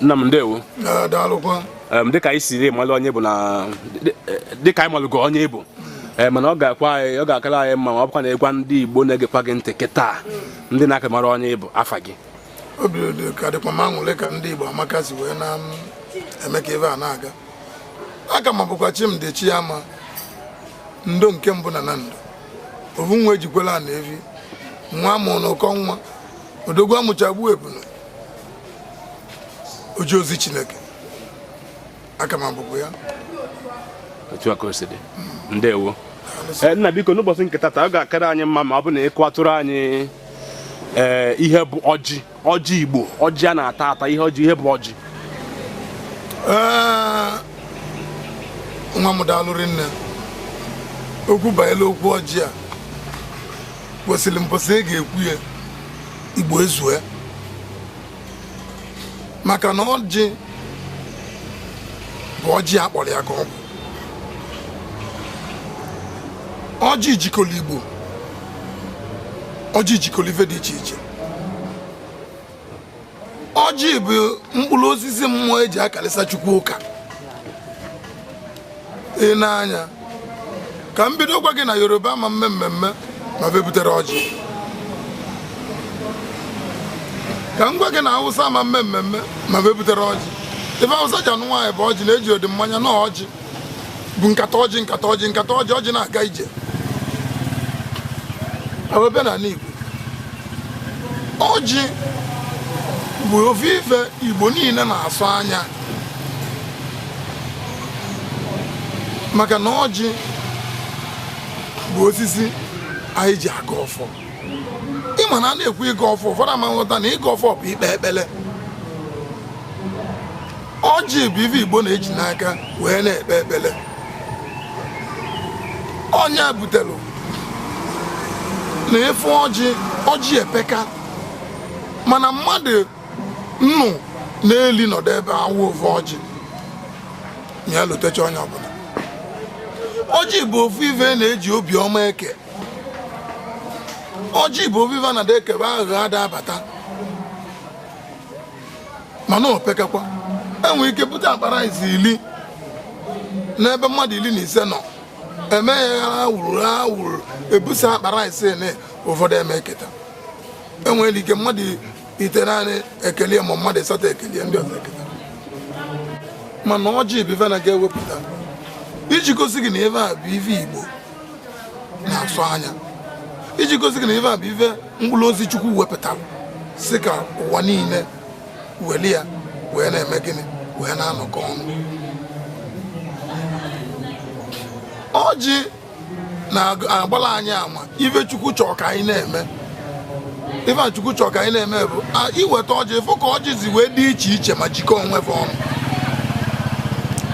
nna m ndewo daalụkwa dịka anyị siri malụ onye bụ na dịka anyị malụgo onye ị bụ ee eh, mana ọ ga-akwa anyị ọ ga-akara anyị mma ma ọ bụkwa na ị gwa ndị Igbo na-egekwa gị ntị kịta ndị na-aka mara onye ị bụ afa gị obi dị ka dịkwa m aṅụlị ka ndị Igbo amaka si wee na-eme ka ebe a na-aga aka m abụkwa Chimdi Chiama ndo nke mbụ na Nando ovu nwa e ji kwelụ ana evi nwa a mụrụ n'ụkọ nwa odogwu amụcha gbue ebunu oji ozi chineke aka m abụkwa ya otu a ka o si dị ndewo Eh, nna biko n'ụbọchị nke tata ọ ga-akara anyị mma ma ọ bụ na ị kọwatụrụ anyị ee ihe bụ ọjị ọjị igbo ọjị a na-ata ata ihe ọjị ihe bụ ọjị Ee, nwa m daalụ rinne okwu banyere okwu ọjị a kwesịrị mbọsị ị ga-ekwu ya igbo ezue maka na ọjị bụ ọjị a kpọrọ ya ka ọ bụ ọjị jikọrọ igbo ọjị jikọrọ ife dị iche iche ọjị bụ mkpụrụ osisi mmụọ eji akalịsa chukwu ụka i nee anya ka m bido gwa gị na yoruba ama eme mmemme ma va ebuterọ ọjị ka m gwa gị na awụsa ama eme mmemme ma va ebuterọ ọjị ife awụsa ji anụ nwaanyị bụ ọjị na ejirọdị mmanya na ọjị bụ nkata ọjị nkata ọjị nkata ọjị ọjị na-aga ije ewebe na ala Igbo ọjị bụ ofu ife Igbo niile na-asọ anya maka na ọjị bụ osisi anyị ji agọ ọfọ ịma na a na-ekwu ịgọ ọfọ ụfọdụ ama aghọta na ịgọ ọfọ bụ ikpe ekpere ọjị bụ ife igbo na-eji n'aka wee na-ekpe ekpere ọ nya butere na ị fụ ọjị ọjị epeka mana mmadụ nnụ na ili nọdụ ebe a waa ofu ọjị ya elutecha onye ọbụla ọjị bụ ofu ife na-eji obiọma eke ọjị bụ ofu ife a na-ada ekebe aghụghọ ada abata mana opekekwa enwere ike bute akpa rice iri n'ebe mmadụ iri na ise nọ eme ya wuru wuru ebusa akpa rice na ụfọdụ ama eketa enwere ike mmadụ itenaanị ekelie ma mmadụ ịsatọ ekelie ndị ọzọ eketa mana ọjị bụ ife na a ga-ewepụta iji gosi gị na ife a bụ ife igbo na-asọ anya iji gosi gị na ife a bụ ife mkpụrụ ozi chukwu wepụtara sị ka ụwa niile weli ya wee na-eme gịnị wee na-anọkọ ọnụ ọjị na-agbala anyị ama ife chukwu chọrọ ka anyị na-eme ife a chukwu chọrọ ka anyị na-eme bụ a, i weta ọjị ị fụ ka ọjị si wee dị iche iche ma jikọọ onwe fa ọnụ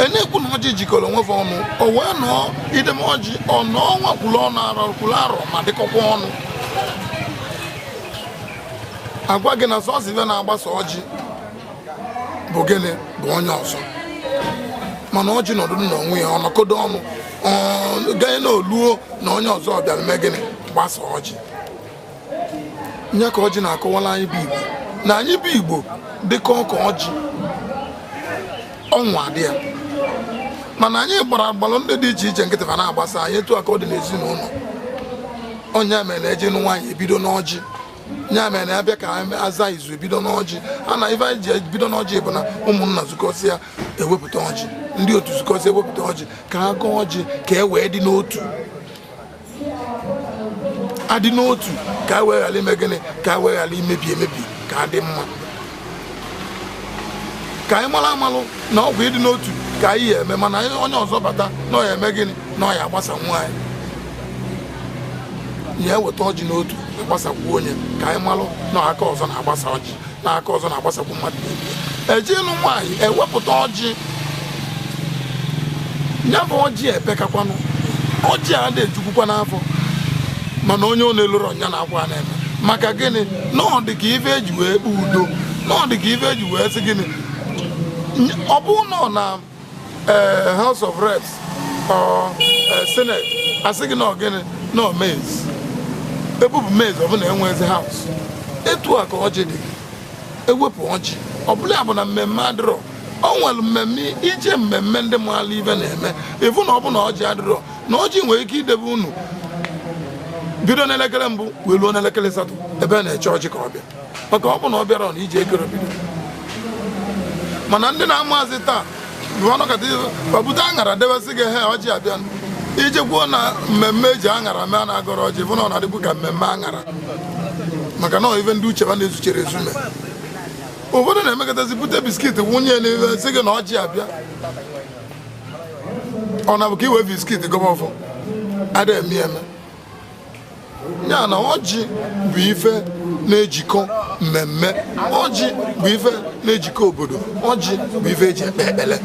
e na-ekwu na ọjị jikọrọ onwe fa ọnụ o wee nọọ i debe ọjị ọ nọọ wee kwuru ọnụ arọ kwuru arọ ma dịkọkwa ọnụ a gwa gị na sọsọ ife na-agbasa ọjị bụ gịnị bụ onye ọzọ mana ọjị nọdụ n'onwe ya ọ nọkọdo ọnụ ganye na o luo na onye ọzọ bịara mee gịnị gbasa ọjị nya ka ọjị na-akọwala anyị bụ igbo na anyị bụ igbo dịka ọka ọjị ọnwa dị ya mana anyị gbara agbalụ ndị dị iche iche nkịtị fa na-agbasa anyị etu a ka ọ dị n'ezinụlọ ọ nya mere na e je ịnụ nwaanyị e bido n'ọjị ya mere na a bịa ka aza izu e bido n'ọjị a na ife anyị ji ebido n'ọjị bụ na ụmụnna zukọsịa e wepụta ọjị ndị otu zukọsịa e wepụta ọjị ka a gọọ ọjị ka e wee dị n'otu a dị n'otu ka e wee ghara ime gịnị ka e wee ghara imebi emebi ka a dị mma ka anyị malụ amalụ na ọ bụ ịdị n'otu ka anyị ya-eme mana onye ọzọ bata na ọ ya-eme gịnị na ọ ya-agbasanwu anyị ya e weta ọjị n'otu a gbasakwuo nya ka anyị malụ na aka ọzọ na-agbasa ọjị na aka ọzọ na-agbasakwu mmadụ e je ịnụ nwaanyị e wepụta ọjị ya bụ ọjị epekakwanụ ọjị adị ejukwukwanụ afọ mana onye ọ na-elurọ ọ ya na-akwa na-eme maka gịnị na ọ dị ka ife e ji wee kpee udo na ọ dị ka ife e ji wee sị gịnị Ny- ọ bụ nọ na eh, house of reps or eh, senate a sị gị na ọ gịnị na ọ mace e bupụ mace ọ bụ na enwezi house etu a ka ọjị dị e wepụ ọjị ọ bụlụ ya bụ na mmemme adịrọ o nwere mmemme i je mmemme ndị maala ife na-eme ị fụ na ọ bụ na ọjị adịrọ na ọjị nwere ike idebe unu bido n'elekere mbụ wee ruo n'elekere asatọ ebe a na-eche ọjị ka ọ bịa maka ọ bụ na ọ bịarọ na ife akarọ ebido mana ndị na-amazi taa bịa nọkọta fa bute aṅara debe sị gị he ọjị abịa i jekwuo na mmemme e ji aṅara mee a na-agọrọ ọjị bụ na ọ na-adịkwu ka mmemme aṅara maka na ọ ife ndị uche fa na-ezucherọ ezu mee ụfọdụ na-emekọtazi bute biskit wụnye n'ife sị gị na ọjị abịa ọ na-abụ ka i we biskit gọba ọfọ ada eme eme ya na ọjị bụ ife na-ejikọ mmemme ọjị bụ ife na-ejikọ obodo ọjị bụ ife eji ekpe ekpele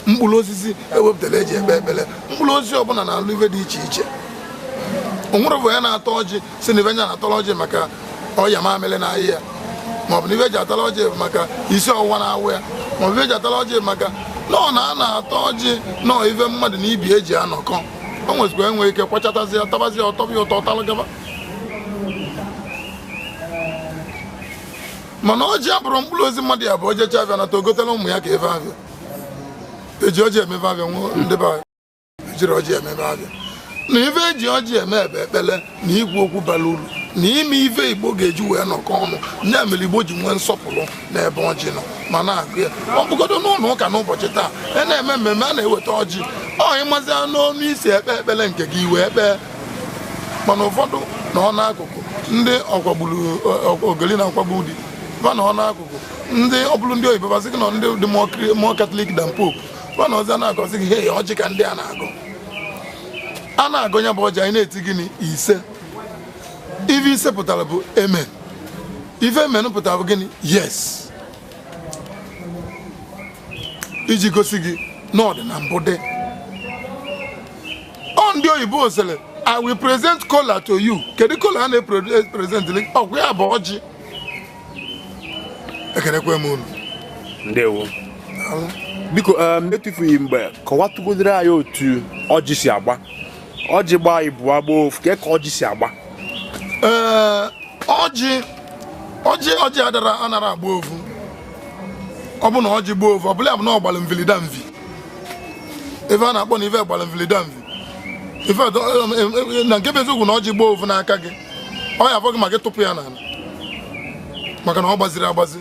mkpụrụ osisi ewepụtara eji ekpe ekpele mkpụrụ osisi ọbụla na-alụ ife dị iche iche o nwere bụ ya na-ata ọjị sị na ife nya na-atara ọjị maka ọya mamịrị na-aya ya maọbụ na ife o ji atara ọjị maka isi ọwụwa na-awụ ya maọbụ ife o ji atara ọjị maka na ọ na a na-ata ọjị na ọ ife mmadụ na ibe ya ji anọkọ o nwezikwa enwe ike kwachatazi ya tabazi ya ọ tọba ya ụtọ ọ talụ gaba mana ọjị abụrọ mkpụrụ osisi mmadụ ya bụ o jecha afịa nata o gotela ụmụ ya ka ife afịa eji ọjị eme ife afịa ndị be anyị ejirọ ọjị eme ife afịa na ife eji ọjị eme bụ ekpele na ikwu okwu bara uru na ime ife igbo ga-eji wee nọkọ ọnụ ya mere igbo ji nwee nsọpụrụ n'ebe ọjị nọ ma a na-agọ ya ọ bụgodo n'ụnọ ụka n'ụbọchị taa a na-eme mmemme a na-eweta ọjị ọ ịmazia n'ọnụ isi ekpe ekpele nke gị i wee kpee mana ụfọdụ na ọ n'akụkụ ndị ọkwagburu ogoli na-akwagbu di ba na ọ n'akụkụ ndị ọ bụrụ ndị oyibo ba asị gị na ndị dị more catholic than pope ba nọzi na-agwazi gị hei ọjị ka ndị a na-agọ a na-agọ ya bụ ọjị anyị na-eti gịnị ise ife ise pụtara bụ amen ife amen pụtara bụ gịnị yes iji gosi gị na ọ dị na mbụ dị ọ ndị oyibo sịrị i will present kola to you kedu kola a na-epresent ọ kwa ya bụ ọjị ekenekwe m unu ndewo biko um, etufughị mgbe kọwatụgodoro anyị otu ọjị si agba ọjị gbaa ịbụa gbaa ofu ka ọjị si agba ee ọjị ọjị ọjị adara anara agba ofu ọ bụ na ọjị gbaa ofu ọ bụla ya bụ na ọ gbara mvilidamvi ive a na-akpọ na ive gbara mvilidamvi ife na nke bụ eziokwu na ọjị gbaa ofu n'aka gị ọ ya-afọ gị ma gị tụpụ ya n'ala maka na ọ gbazirọ agbazi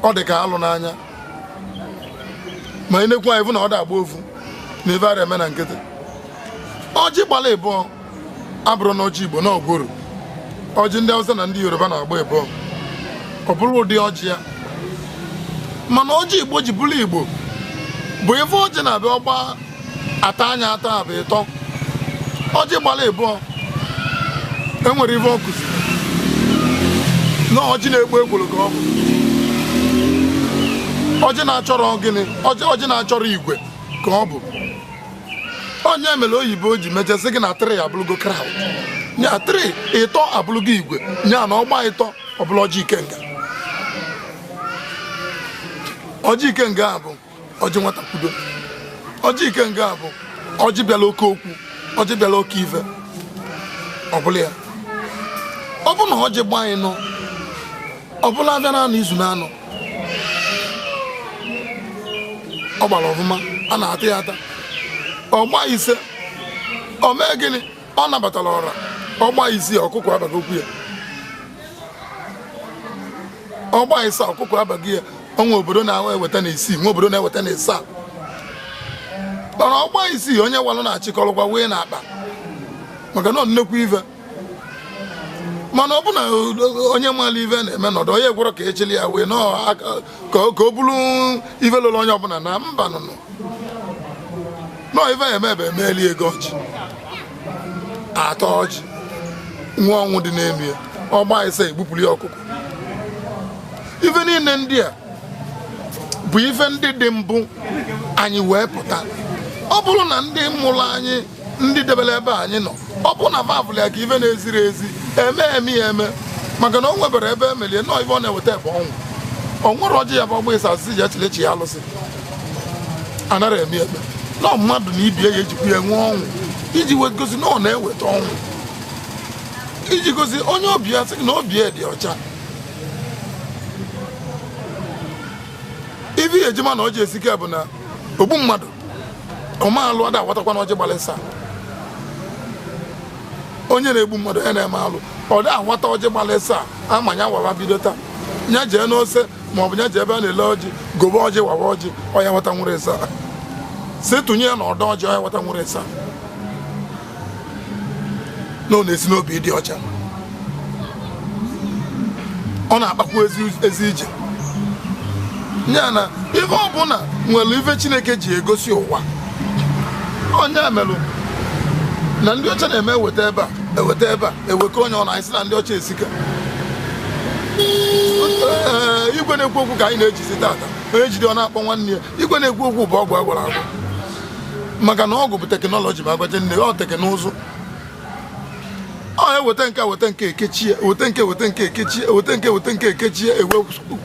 ọ dị ka alụ n'anya ma ị na-ekwu anyị fụ na ọ da agba ofu na ife ara eme na nkịtị ọjị gbala ịbụọ abụrọ na ọjị igbo na ọ gworo ọjị ndị Hausa na ndị Yoruba na-agba ịbụọ ọ bụrụ ụdị ọjị ya mana ọjị igbo ji bụrụ igbo bụ ịfụ ọjị n'ebe ọ gba ata nya ata bụ ịtọ ọjị gbara ịbụọ enwere ife ọ kụziri na ọjị na-ekwo ekworo ka ọ bụ ọjị na-achọrọ gịnị ọjị na-achọrọ igwe ka ọ bụ ọ nya mere oyibo ji mechaa sị gị na three abụlụgo crowd nya three ịtọ abụlụgo igwe nya na ọgba ịtọ ọ bụlụ ọjị ikenga ọjị ikenga a bụ ọjị nwata kwudo ọjị ikenga bụ ọjị bịara oke okwu ọjị bịara oke ife ọbụla ya ọ bụ na ọjị gbaa ịnọ ọ bụlụ afịa na anọ izu na anọ ọ gbara ọfụma a na-ata ya ata ọ gba ise ọ mee gịnị ọ nabatara ọra ọgba isii ọkụkọ abago okwu ya ọgba ịsaa ọkụkọ abago ya o nwee obodo na-eweta na isii nwee obodo na-eweta na ịsaa mana ọgba isii onye walụ na-achịkọrọkwa wee na akpa maka na nnekwu ife mana ọ bụ na onye mara ife na-eme nọdụ onye gwọrọ ka echili ya wee na ka ọ bụrụ ife lụrụ onye ọbụla na mba nụnụ nọ ife emebe emeeli egọọ ọjị ataa ọjị nwee ọnwụ dị n'ime ya ọgba ise egbupụrụ ya ọkụkọ ife niile ndị a bụ ife ndị dị mbụ anyị wee pụta ọ bụrụ na ndị mụrụ anyị ndị debere ebe anyị nọ ọ bụ na va vụlụ ya ka ife na-eziri ezi eme eme ya eme maka na o nwebere ebe emelie nọọ ife ọ na-eweta ebe ọnwụ ọ nwere ọjị ya bụ ọgba ịsaa asị ji echilechi ya alụsị anara eme eme na mmadụ na ibe ya ejikwa ya nwee ọnwụ iji wee gosi na ọ na-eweta ọnwụ iji gosi onye ọbịa sị na obi ya dị ọcha ife eji ama na ọjị esike bụ na ogbu mmadụ ọme alụ ada awatakwana ọjị gbalị ịsaa onye na-egbu mmadụ onye na-eme alụ ọ da awata ọjị gbalị ịsaa ama nya wawa bido taa nya jee n'ose ma ọ bụ nya jee ebe a na-ele ọjị gobe ọjị wawa ọjị ọ ya-awata nwere ịsaa sị tụnye ya na ọ dịrọ ọjị ọ ya-awata nwere ịsaa na ọ na-esi n'obi dị ọcha ọ na-akpakwa ezi ije ya na ife ọbụla nwere ife chineke ji egosi ụwa ọ nya merụ na ndị ọcha na-eme eweta ebe a eweta ebe a ewekọ onye ọ na anyị na ndị ọcha esika igwe na-ekwu okwu ka anyị na-ejizi tata onye jide ọ na-akpọ nwanne ya igwe na-ekwu okwu bụ ọgwụ a gwara agwa maka na ọgwụ bụ teknọlọji ma a gwa gị na ọ teknụzụ ọ eweta nke weta nke ekechie weta nke weta nke ekechie weta nke weta nke ekechie ewe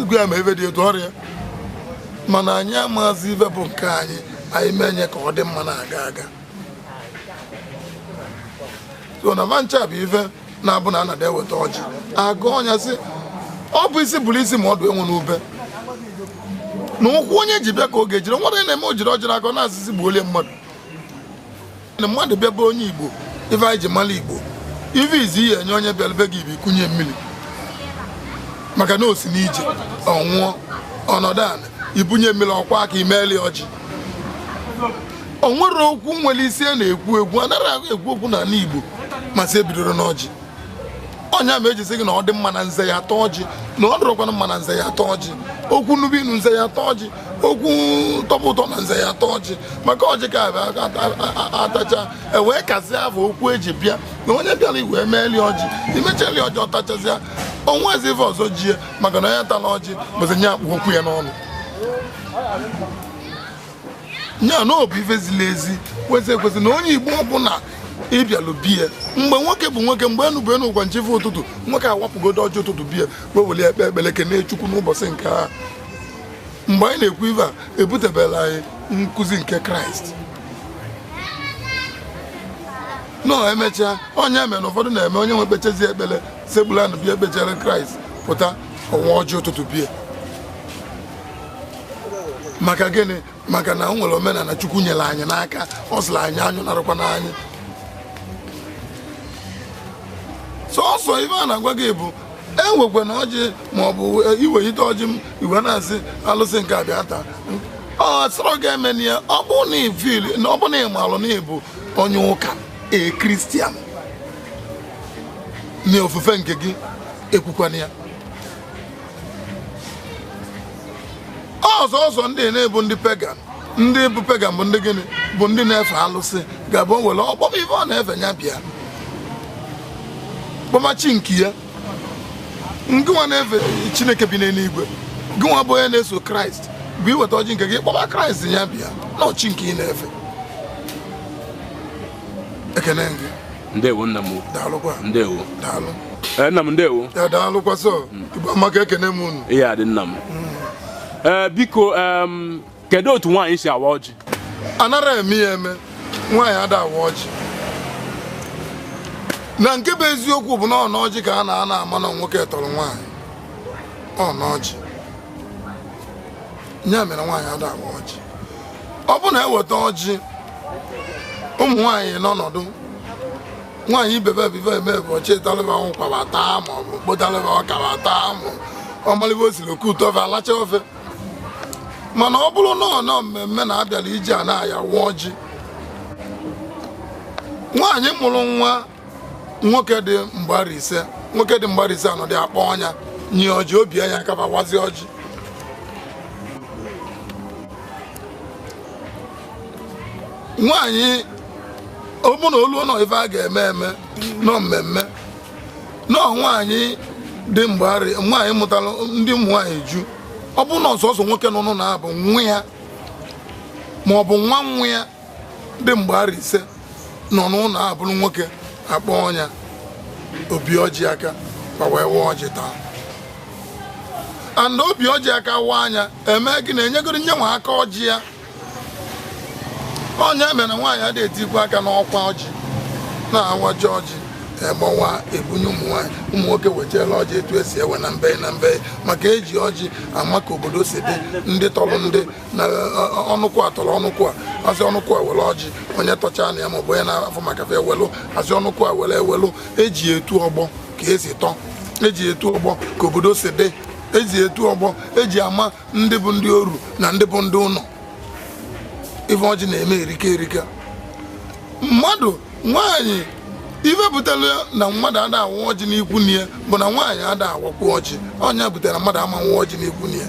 ugwu ya ma ebe dị etu ọrịa mana anyị amazi ife bụ nke anyị anyị menye ka ọ dị mma na-aga aga so na fa ncha bụ ife na-abụ na anada eweta ọjị a gọọ nya sị ọ bụ isi bụrụ isi ma ọdụ enwe n'ube na ụkwụ onye ji bịa ka ọ ga-ejiri were na-eme o jiri ọjịrị akọ na-asị sị gbuolie mmadụ na mmadụ bịa bụ onye igbo ife anyị ji mara igbo ife izizi ị ya-enye onye bịara be gị bụ ikunye mmiri maka na o si n'ije ọ nwụọ ọ nọdụ ala i bunye mmiri ọ kwaa aka i meeli ọjị o nwere okwu nwere isi a na-ekwu ekwu anaghị ekwu okwu n'ala Igbo ma sị ebidorọ n'ọjị ọ nya mee e ji sị gị na ọ dị mma na nze ya-ata ọjị na ọ dịrọkwana mma na nze ya-ata ọjị okwu nube inu nze ya-ata ọjị okwu tọba ụtọ na nze ya-ata ọjị maka ọjị ka a tachaa e wee kazie afọ okwu e ji bịa na onye bịara i wee meeli ọjị i mechali ọjị ọ tachazịa o nwezi ife ọzọ jie maka na onye tala ọjị bụzi nya kpụ okwu ya n'ọnụ ya na ọ bụ ife ziri ezi kwesị ekwesị na onye igbo ọbụla ị bịalụ be ya mgbe nwoke bụ nwoke mgbe enu bụ enu ụgwa chi efo ụtụtụ nwoke awapụgodu ọjị ụtụtụ be ya wee were kpee ekpere kene chukwu n'ụbọchị nke a mgbe anyị na-ekwu ife a ebutebela anyị nkụzi nke kraịst nọ emechaa onye eme na ụfọdụ na-eme onye wee kpechazie ekpere sekpulu ana bịa kpechere kraịst pụta ọ waa ọjị ụtụtụ be ya maka gịnị maka na o nwere omenala chukwu nyere anyị n'aka ọ sịrị anyị anyị narụkwa n'anyị sọsọ ife a na-agwa gị bụ ewekwana ọjị maọbụ iwelite ọjị i wee na-asị alụsị nke a bịa taa ọ sọrọ gị emena ya ọ bụ na ị fụlụ na ọ bụ na ị malụ na ị bụ onye ụka a kristian na ofufe nke gị ekwukwana ya ọzọ ọzọ ndị na-abụ ndị pagan ndị bụ pagan bụ ndị gịnị bụ ndị na-efe alụsị ga-abụ o were ọ kpọọ ife ọ na-efe ya bịa kpọma chi nke ya ngịnwa na-efe chineke bi n'eluigwe gịnwa bụ onye na-eso kraịst bụ i weta ọjị nke gị kpọma kraịst ya bịa na ọ chi nke ị na-efe ekele gị ndewo nna m daalụkwa ndewo daalụ ee nna m ndewo ya daalụkwa sọ igbo amaka ekene m unu ihe adị nna m ee biko em, kedu otu nwaanyị si awa ọjị anara eme ya eme nwaanyị ada awa ọjị na nke bụ eziokwu bụ na ọ n'ọjị ka a na-anọ ama na nwoke tọrọ nwaanyị ọ n'ọjị ya mere nwaanyị ada awa ọjị ọ bụ na eweta ọjị ụmụ nwaanyị n'ọnọdụ nwaanyị ibe ba ife ba eme bụ achịtalị ba ụkwa ba taa ma ọ bụ kpotalị ba ọka ba taa ma ọmalịba osiri ekute ofe alacha ofe mana ọ bụrụ na ọ nọ mmemme na abịara ije a na a ya-awa ọjị nwaanyị mụrụ nwa nwoke dị mgba arọ ise nwoke dị mgba arọ ise anọdụ akpọọ nya nye ọjị o bie nya aka ba wazie ọjị nwaanyị ọ bụ na o luo na ọ ife a ga-eme eme na ọ mmemme na ọ nwaanyị dị mgbari nwaanyị mụtara ndị ụmụ nwaanyị ju ọ bụ na ọ sọsọ nwoke nọ n'ụlọ a bụ nwa ya ma ọ bụ nwa nwa ya dị mgba arọ ise nọ n'ụlọ a bụrụ nwoke akpọọ nya o bie ọjị aka ba wee waa ọjị taa and o bie ọjị aka waa nya eme gị na enyegoro onye nwe aka ọjị ya ọ nya mere na nwaanyị ada etikwa aka n'ọkwa ọjị na awachaa ọjị egbuwa ebunye ụmụ nwaanyị ụmụ nwoke wechala ọjị etu esi ewe na mbe na mbe maka eji ọjị ama ka obodo si dị ndị tọrọ ndị na ọnụkwụ a tọrọ ọnụkwụ a asị ọnụkwụ a were ọjị onye tọcha na ya maọbụ onye na-afụ maka fa ewelụ asị ọnụkwụ a were ewelụ eji etu ọgbọ ka esi tọ eji etu ọgbọ ka obodo si dị eji etu ọgbọ eji ama ndị bụ ndị oru na ndị bụ ndị ụlọ ife ọjị na-eme erika erika mmadụ nwaanyị ife butere na mmadụ ada awa ọjị n'ikwunne ya bụ na nwaanyị ada awakwa ọjị ọ nya butere na mmadụ ama awa ọjị n'ikwunne ya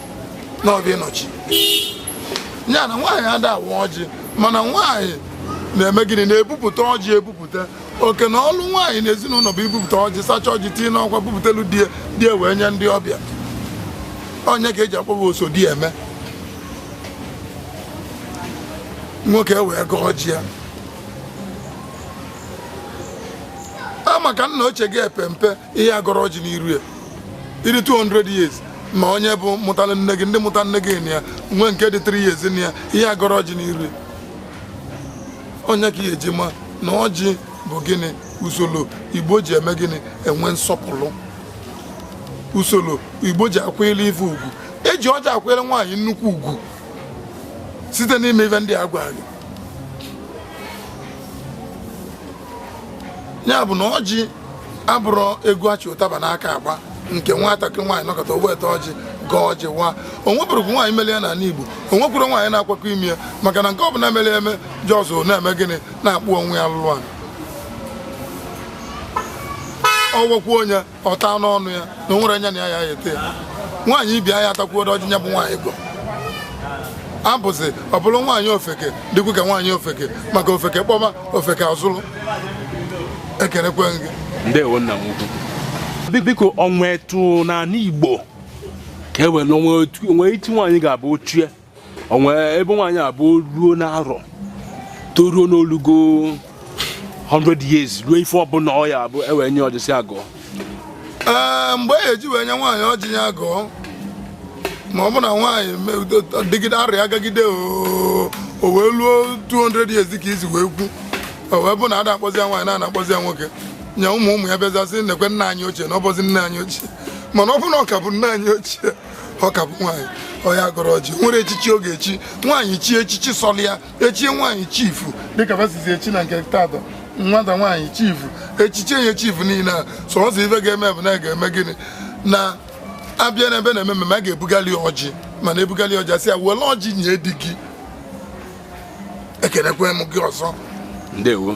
n'obi nna ochie ya na nwaanyị ada awa ọjị mana nwaanyị na-eme gịnị na-ebupụta ọjị ebupụta oke na ọlụ nwaanyị na ezinụlọ bụ ibupụta ọjị sacha ọjị tinye n'ọkwa bupụtelu di ya di ya wee nye ndị ọbịa ọ nya ka eji akpọ ba oso di eme nwoke wee gọọ ọjị ya a maka nna ochie gị epempe ị ya-agọrọ ọjị n'iru ya ị dị 200 years ma onye bụ mụtara nne gị ndị mụtara nne gị na ya nwee nke dị 3 years na ya ị ya-agọrọ ọjị n'iru ya onye ka ihe e ji ma na ọjị bụ gịnị usoro igbo ji eme gịnị enwe nsọpụrụ usoro igbo ji akwanyere ife ugwu e ji ọjị akwanyere nwaanyị nnukwu ugwu site n'ime ife ndị a gwara gị ya bụ na ọjị abụrọ egwu a chị ụtaba n'aka agba nke nwatakịrị nwaanyị nọkọta o weta ọjị gọọ ọjị wa o nweburọkwa nwaanyị meli ya n'ala Igbo o nwekwurọ nwaanyị na-akwakọ ime ya maka na nke ọbụla mere eme jọzụ na-eme gịnị na-akpụ onwe ya lụlụ a ọwọkwa onye ọ taa n'ọnụ ya na o nwere anya na ya ya ete ya nwaanyị ibi anya atakwuo ọjị nya bụ nwaanyị gọ abụzi ọ bụrụ nwaanyị ofeke dịkwu ka nwaanyị ofeke maka ofeke kpọma ofeke azụrụ ekelekwe gị ndewo nna m ukwu Bi- biko o nwe etu n'ala igbo ka e were o nwe otu o nwe etu nwaanyị ga-abụ ochie o nwe ebe nwaanyị abụ ruo n'arọ toruo n'olugo 100 years ruo ife ọbụla ọ ya-abụ e wee nye ọjị sị ya gọọ ee mgbe e eji wee nye nwaanyị ọjị ya gọọ ma ọ bụ na nwaanyị dịgide arọ agagide o wee luo 200 years ka i si wee kwu o wee bụ na a da akpọzi ya nwaanyị na a na-akpọzi ya nwoke nye ụmụ ụmụ ya bịazasị nekwe nna anyị ochie na ọ bụzi nna anyị ochie mana ọ bụ na ọ ka bụ nna anyị ochie ọ ka bụ nwaanyị ọ ya-agọrọ ọjị nwere echichi ọ ga-echi nwaanyị chi echichi sọlị ya echie nwaanyị chief dịka ba sizi echi na nke taata nwata nwaanyị chief echichi enye chifu niile a so ọzọ ife ga-eme bụ na ga-eme gịnị na a bịa n'ebe na-eme mmemme a ga-ebugali ọjị mana e bugali ọjị a sị ya were ọjị nye di gị ekenekwe m gị ọzọ ndewo